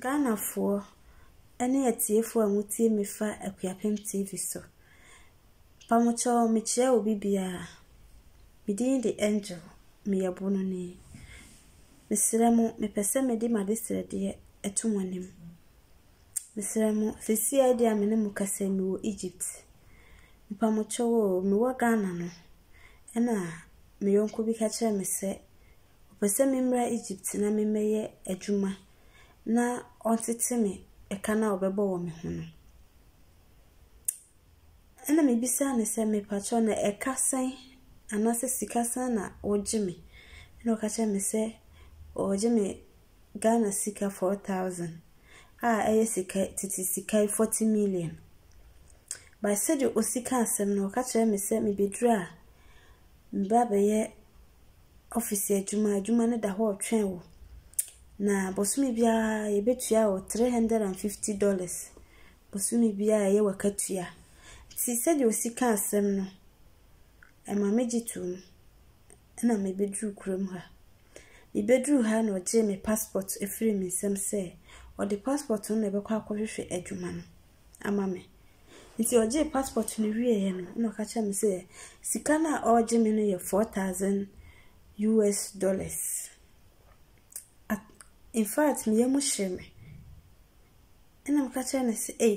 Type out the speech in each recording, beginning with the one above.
Ghanafoɔ ne atiefoɔ a motie me fa Akuapem TV so. Mpamokyɛw mekyerɛ obi biara, me din de Angel, meyɛ Bononi. Mesrɛ mo, mepɛ sɛ mede m'adesrɛdeɛ ɛto mo anim. Mesrɛ mo, seesei ara deɛ a me ne mo kasa yi mewɔ Egypt. Mpamokyɛw o, mewɔ Ghana no, ɛna me yɔnko bi ka kyerɛɛ me sɛ Ɔpɛ sɛ memmra Egypt na memmɛyɛ adwuma na ɔntete me ɛka no a ɔbɛbɔ wɔ me ho no. Ɛna mebisaa no sɛ, mepakyɛw na ɛka sɛn anaasɛ sika sɛn na wogye me? Ɛna ɔka kyerɛ me sɛ ɔgye me Ghana sika 4,000 a ɛyɛ sika tete sika 40 million. By sɛdeɛ ɔsi ka asɛm no, ɔka kyerɛ me sɛ mebɛduru a meba bɛyɛ ɔfese adwuma, adwuma no da hɔ retwɛn wo. Na bosome biara yɛbɛtua wo three hundred and fifty dollars bosome biara ɛyɛ wakatua. Nti sɛdeɛ osi ka asɛm no, ɛma megye toom ɛna mebɛduru kurom ha. Mebɛduru ha na ɔgyee me passport ɛfiri me nsam sɛ ɔde passport no na ɛbɛkɔ akɔhwehwɛ adwuma no. ama me. Ntsi ɔgyee passport no wieeɛ no na ɔka kyerɛɛ me sɛ sika no a ɔregye me no yɛ four thousand US dollars. At infact me yamu hyee me. Ɛna meka kyerɛɛ no sɛ ei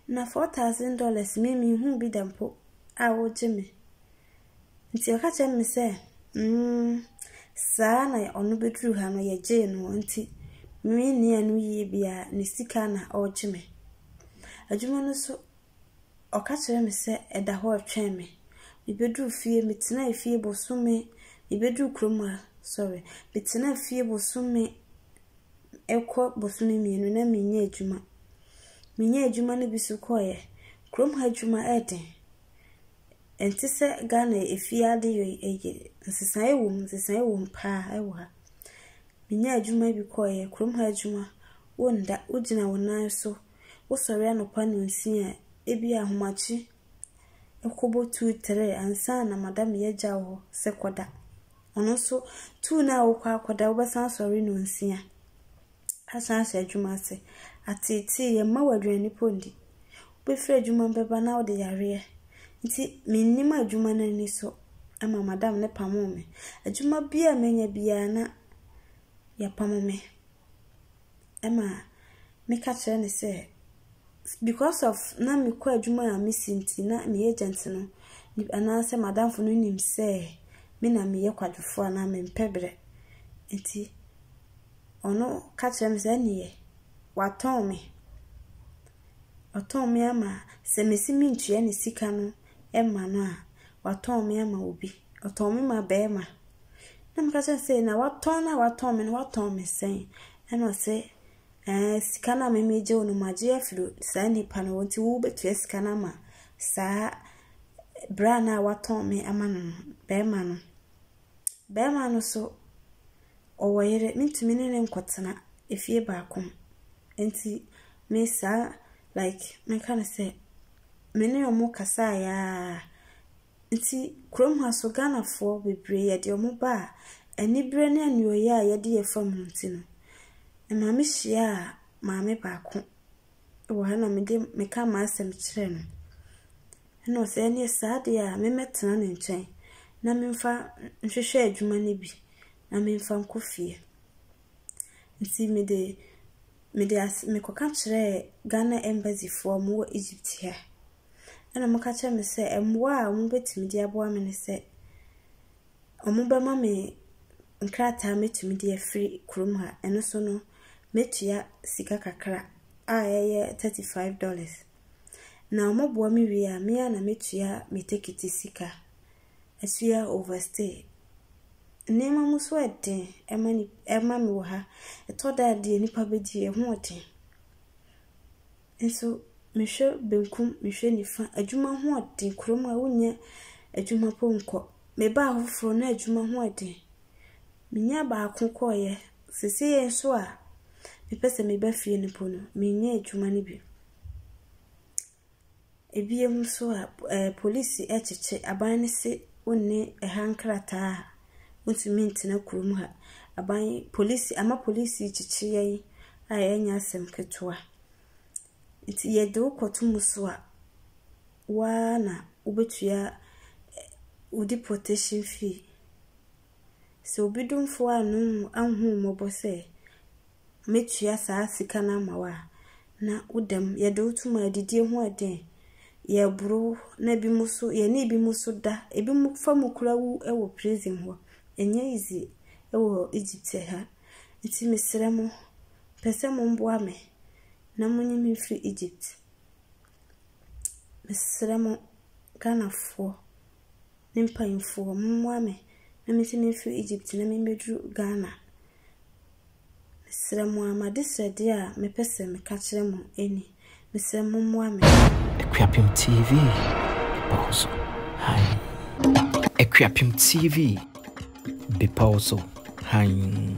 na four thousand dollars me menhuu bi da mpo a wogye me. Nti ɔka kyerɛɛ me sɛ, mm, saa na ɔno bɛduruu ha no yɛgyee no hɔ nti menni ano yie biara ne sika na ɔregye me. Adwuma no so ɔka kyerɛɛ me sɛ ɛda hɔ retwɛn me. Mebɛduruu fie, metenaa fie bosome, mebɛduruu kurom a, sorry, metenaa fie bosome ɛkɔ bosome mmienu na menyɛ adwuma. Menyɛ adwuma no bi so kɔeɛ. Kurom ha adwuma ɛyɛ den. Ɛnte sɛ Ghana efie adeyɔ yi ɛ, nsesaeɛ wɔ mu, nsesaeɛ wɔ mu paa wɔ ha. Menyaa adwuma bi kɔeɛ, kurom ha adwuma, wonda, wogyina wo nan so, wosɔre anɔpa nnɔnsia a, ebia ahomakye ɛkɔbɔ two, three ansa na madam yi agya wo hɔ sɛ kɔda. Ɔno nso, two no a wokɔ akɔda, wobɛsan asɔre nnɔnsia. asan ahyɛ adwuma ase. Ateetee yɛ mma wo aduane mpo ndi. Wobɛfiri adwuma bɛba na wode yareɛ. Nti mennim adwuma no ani so ma madam no pamoo me. Adwuma biara a mɛnya biara na yɛpamo me ma meka kyerɛ no sɛ because of na mekɔ adwuma a mesi nti na me agent no anaasɛ madamfo no nim sɛ me na meyɛ kwadwofoɔ anaa mempɛ berɛ nti Ɔno ka kyerɛ me sɛ, Ɛnneɛ, watɔn me. Watɔn me ama, sɛ mese mentua ne sika no mma no a, watɔn me ama obi. Ɔtɔn me ma barima. Na meka kyerɛ no sɛ, Na watɔn no a watɔn me no, watɔn me sɛn? Ɛna ɔse, Ɛɛ, sika no a me megye wo no, magye afiri saa nipa no hɔ, nti wobɛtua sika no ama saa bra no a watɔn me ama no no, barima no. Barima no so Ɔwɔ yere, mentumi ne no nkɔtena efie baako mu. Enti me saa like mɛka no sɛ me ne wɔn kasaeɛ ara. Nti kurom ha nso Ghanafoɔ bebree yɛde wɔn ba a, aniberɛ ne anuoyɛ a yɛde yɛ fam no nti no, ɛma mehyiaa maame baako wɔ ha na mede meka m'asɛm kyerɛɛ no. Ɛna ɔse ɛneɛ saa deɛ a memmɛtena ne nkyɛn na memfa nhwehwɛ adwuma no bi na memfa nkɔ fie. Nti mede mede ase mekɔka kyerɛɛ Ghana embassy foɔ a ɔmo wɔ Egypt ha. Ɛna ɔmo ka kyerɛɛ me sɛ mmoa a ɔmo bɛtumi de aboa me ne sɛ ɔmo bɛma me nkrataa a mɛtumi de afiri kurom ha. Ɛno so no mɛtua sika kakra a ɛyɛ thirty five dollars. Na wɔboa me wie a, me ara na metua me tekiti sika. Asua overstay. Nneɛma mu so yɛ den ma ni ma me wɔ ha. Ɛtɔ da a deɛ nnipa bɛdi, ɛho yɛ den. Nso mehwɛ benkum, mehwɛ nifa. Adwuma ho yɛ den. Kurom ha wonyɛ adwuma mpo nkɔ. Mebaa hɔ foforɔ na adwuma ho yɛ den. Menyaa baako kɔeɛ. Seesei nso a mepɛ sɛ meba fie no mpo no, menyɛ adwuma no bi. Ebiem nso a, ɛɛ polisi kyekye aban no se wonni ha nkrataa a, wontumi ntena kurom ha. Aban yi, polisi ama polisi kyekye yɛn a ɛnyɛ asɛm ketewa. Nti yɛde wo kɔto mu so a, wo ara na wobɛtua wo deportation fee. Sɛ obi domfoɔ anhu wo mmɔbɔ sɛ. mɛtua saa sika no ama wo a, na wo dam, yɛde wo tom a adidie ho ɛden, yɛboro wo, na bi mo so, yɛne bi mo so da, ebi mo fa mo kura wu wɔ prison hɔ, ɛnyɛ easy wɔ Egypt ha, nti mesrɛ mo, pɛ sɛ mo mboa me, na mo nye me mfiri Egypt, mesrɛ mo, Ghanafoɔ, ne mpanyinfoɔ, mo mmoa me, na me nso me mfiri Egypt, na me mmɛduru Ghana. Mesrɛ mo ara, m'adesrɛdeɛ a mepɛ sɛ meka kyerɛ mo ni, mesrɛ mommoa me. Akuapem TV bepɔw so hann. Akuapem TV bepɔw so hann.